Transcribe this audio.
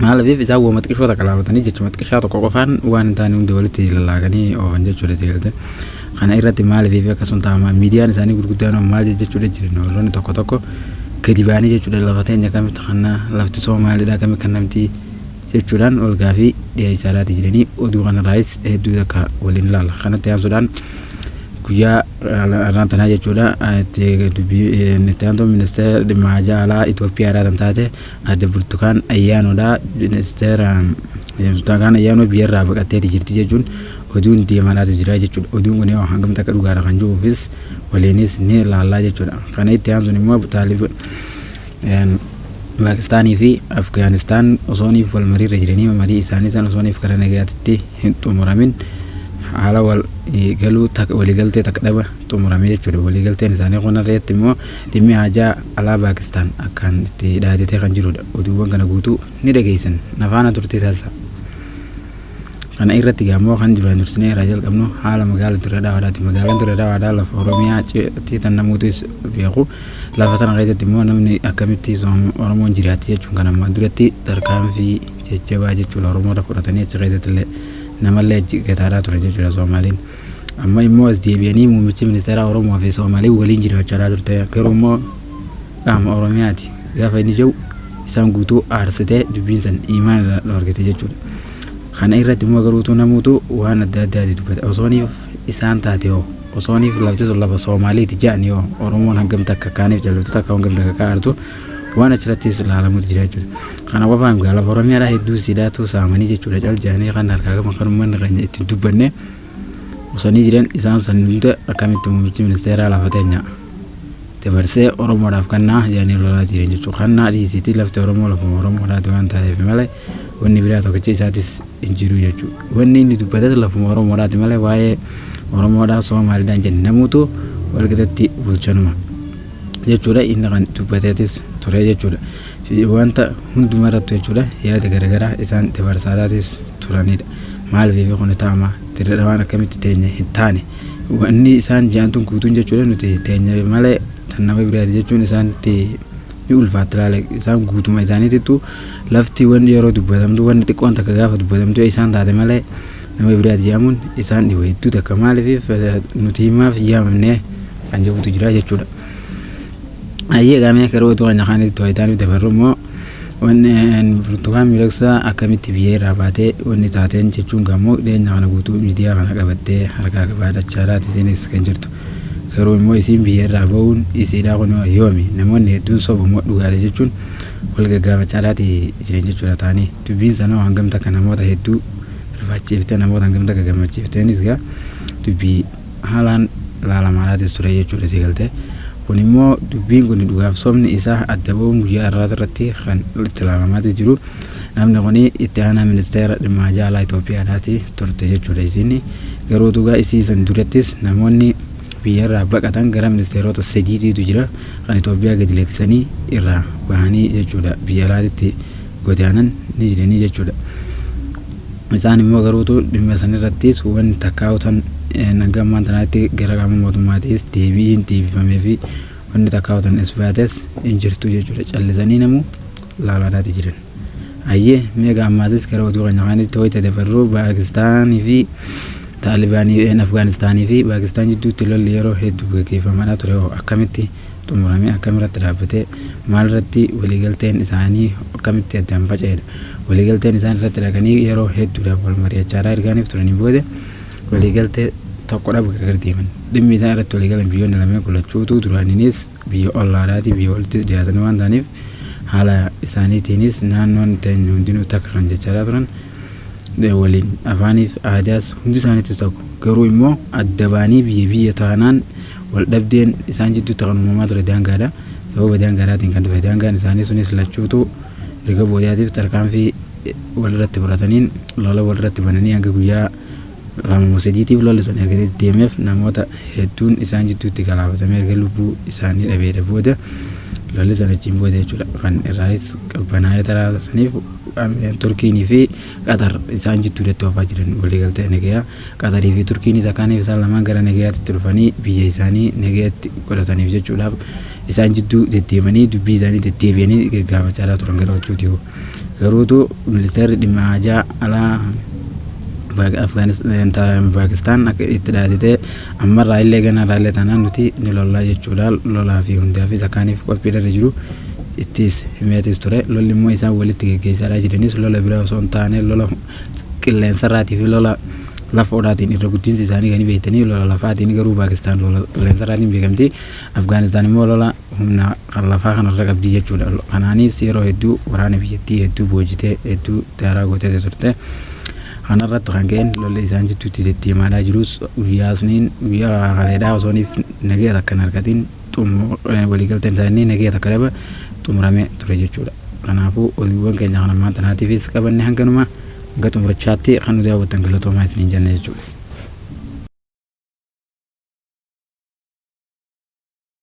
Maaliif isaan wama xiqishoo takka laabatanii jechuma xiqishaa tokko qofaan waan hin taane hunda walitti lallaaganii oofan jechuudha jeelte. Kana irratti maaliif akkasuma taa'ama miidiyaan isaanii gurguddaan hoo maal jechuudha jiran warroonni tokko tokko gadi baanii jechuudha lafa teenya akkamitti kanna lafti soo maalidha akkamii kan namti jechuudhaan ol gaafii dhiyeessaadhaati jiranii oduu kanarraayis hedduu takka waliin ilaalla. Kanatti aansuudhaan guyyaa irraan tanaa jechuudha itti dubbii itti aantuu ministeera dhimma jaalaa Itoophiyaa irraa kan taate Aadde Burtukaan Ayyaanoodha. Ministeera Burtukaan Ayyaanoo biyyarraa baqatteeti jirti jechuun oduun deemaadhaatu jira jechuudha. Oduun kun yoo hangamta akka dhugaadha kan jiruufis waliinis ni ilaallaa jechuudha. Kana itti aansuun immoo Paakistaanii fi Afgaanistaan osooniif wal mariirra jiranii marii isaanii san osooniif karaa nagaatitti hin xumuramin haala wal galuu waliigaltee takka dhaba xumurame jechuudha. Waliigalteen isaanii kun irratti immoo Dhimmi haajaa alaa Paakistaan akkaan itti dhaaddatee kan jiru dha. Oduuwwan kana guutuu ni dhageessan. Na faana turtii taasisaa. Kana irratti egaa immoo kan duraan dursinee irraa jalqabnu haala magaala Dirree Dhawaadhaati. Magaalaan Dirree Dhawaadhaa lafa Oromiyaa ceetti tan namooti beeku. Lafa tana keessatti immoo namni akkamitti Oromoon jiraatti jechuun kan ammaan duratti tarkaanfii jajjabaa jechuudha Oromoota fudhatanii achi keessatti illee namallee achi gataadhaa ture jechuudha Soomaaliin. Amma immoo as deebi'anii muummichi ministeeraa Oromoo fi Soomaalee waliin jiraachaa turte. Garuu immoo qaama Oromiyaati gaafa inni jedhu isaan guutuu aarsitee dubbiin san imaan irraa dhoorgite jechuudha. Kana irratti immoo garuutu namuutu waan adda addaati dubbata. Osooniif isaan taate hoo osooniif lafti sun lafa Soomaaleeti jedhanii hoo Oromoon hangam takka kaaniif jallattu takka hangam takka kaa'artu waan achirrattis ilaalamuutu jira jechuudha. Kana qofaa miti lafa Oromiyaadhaa hedduu siidaatu saamanii jechuudha cal jedhanii kan harkaa qaban kan uummanni keenya ittiin dubbanne. osanii jiran isaan san hunda akkamitti muummichi ministeeraa lafa teenya dabarsee oromoodhaaf kannaa jedhanii lolaa jiran jechuudha kannaa dhiisitii lafti oromoo lafuma oromoodhaati waan taateef malee wanni biraa tokkicha isaatis hin jiru jechuudha wanni inni dubbates lafuma oromoodhaati malee waa'ee oromoodhaa soomaaliidhaan jenne namuutu walqixatti bulchanuma jechuudha inni kan dubbateetis ture jechuudha. wanta hundumaa irratti jechuudha yaada garaagaraa isaan itti barsaadhaatis turanidha. Maal beefi kun taama dirree dhawaan akkamitti teenya hin taane wanni isaan jaantuun guutuun jechuudha nuti teenya malee tan nama biraati jechuun isaanitti ni ulfaatti laale isaan guutuma isaaniitittu lafti wanni yeroo dubbatamtu wanni xiqqoon takka gaafa dubbatamtu isaan taate malee nama biraati jaamuun isaan dhiba hedduu takka maaliif nuti himaaf yaamamne kan jedhutu jira jechuudha. Ayyee gaamee keroo utuu kana kaanitti tooyitaa nutti farru immoo wanneen burtukaan miidhagsaa akkamitti biyya irraa baatee wanni taateen jechuun gaammoo dhiyeenya kana guutuu miidiyaa kana qabattee harkaa qabaatachaa laati isiinis kan jirtu. Garuu immoo isiin biyya irraa ba'uun isiidhaa kun yoomi namoonni hedduun sobu immoo dhugaadha jechuun wal gaggaafachaa laati jiran jechuudha taanii. Dubbiin sanoo hangam takka namoota hedduu rifaachiifte namoota hangam takka gammachiifteenis gaa dubbii haalaan laalamaalaatis ture jechuudha si galtee. Kun immoo dubbiin kun dhugaaf sobni isaa adda ba'uun guyyaa irraas irratti kan itti laalamaatis jiru. Namni kun itti aanaa ministeera dhimma ajaa alaa Itoophiyaadhaati turte jechuudha isiin. Garuu dhugaa isii san durattis namoonni biyyarraa baqatan gara ministeerota sadiitiitu jira kan Itoophiyaa gadi lakkisanii irraa bahanii jechuudha biyya alaatitti godaanan ni jiranii jechuudha. Isaan immoo garuutu dhimma san irrattis wanti takkaa'u tan hanga ammaan tanaatti gara qaama mootummaatiis deebi'iin deebifamee fi wanti takkaa'u tan isbaates hin jirtu jechuudha. Callisanii namuu laalaadhaati jiran. Ayyee meeqa ammaatis gara oduu keenya kaanitti wayita dabarru Paakistaanii fi Taalibaanii Afgaanistaanii fi Paakistaan jidduutti lolli yeroo hedduu gaggeeffamaadha ture akkamitti xumuramee akkam irratti dhaabbate, maal irratti waliigalteen isaanii akkamitti addaan faca'edha. Waliigalteen isaan irratti dhaqanii yeroo hedduudhaaf wal mari'achaadhaa ergaaniif turanii booda waliigaltee tokko dhabu gargar deeman. Dhimmi isaan irratti waliigalan biyyoonni lameen kun lachuu utuu duraaniinis biyya ollaadhaatii biyya walittis dhiyaatanii waan ta'aniif haala isaaniitiinis naannoon teenya hundinuu takka kan jechaadhaa turan waliin afaaniif aadaas hundi isaaniitu tokko garuu immoo adda baanii biyya biyya taanaan wal dhabdeen isaan jidduutti kan uumamaa ture daangaadha sababa daangaadhaatiin kan dhufe daangaan isaanii sunis lachuutu erga boodaatiif tarkaanfii walirratti fudhataniin lola walirratti bananii hanga guyyaa Masjidiitiif lolli sun erga deddeemeef namoota hedduun isaan jidduutti galaafatame erga lubbuu isaanii dhabeedha booda lolli sun achiin booda jechuudha kan irraayis qabbanaa'ee taraa saniif Turkiinii fi Qatar isaan jidduudatti oofaa jiran waliigaltee nagayaa Qatarii fi Turkiin isa kaaniif isaan lamaan gara nagayaatti itti dhufanii biyya isaanii nagayatti godhataniif jechuudhaaf isaan jidduu deddeemanii dubbii isaanii deddeebi'anii gaggaafachaa turan gara lachuu dhiyoo. Garuu utuu Ministeerri Dhimma Haajaa Alaa Paakistaan akka itti dhaaditee ammarraa illee ganarraa illee taanaan nuti ni lollaa jechuudhaan lolaa fi hundaafis akkaaniif qophiidharra jiru ittis himeetis ture. Lolli immoo isaan walitti geggeessaadhaa jiranis lola biraa osoo hin taane lola qilleensarraatii fi lola lafoodhaatiin irra guddinsi isaanii kan beektanii lola lafaatiin garuu Paakistaan lola qilleensarraatiin beekamti. Afgaanistaan immoo lola humna kan lafaa kanarra qabdi jechuudha. Kanaanis yeroo hedduu waraana biyyattii hedduu boojitee hedduu daaraa gootee turte. Kanarratti kan ka'een lolli isaan jidduutti deddeemaalaa jirus guyyaa suniin guyyaa kaleedhaa osooniif nagaya takka hin argatiin waliigalteen isaa inni nagaya takka dhaba xumuramee ture jechuudha. Kanaafuu oduuwwan keenya kan ammaan tanaatiifis qabanne hanganuma hanga xumurachaatti kan nu daawwattan galatoomaa isiniin jenna jechuudha.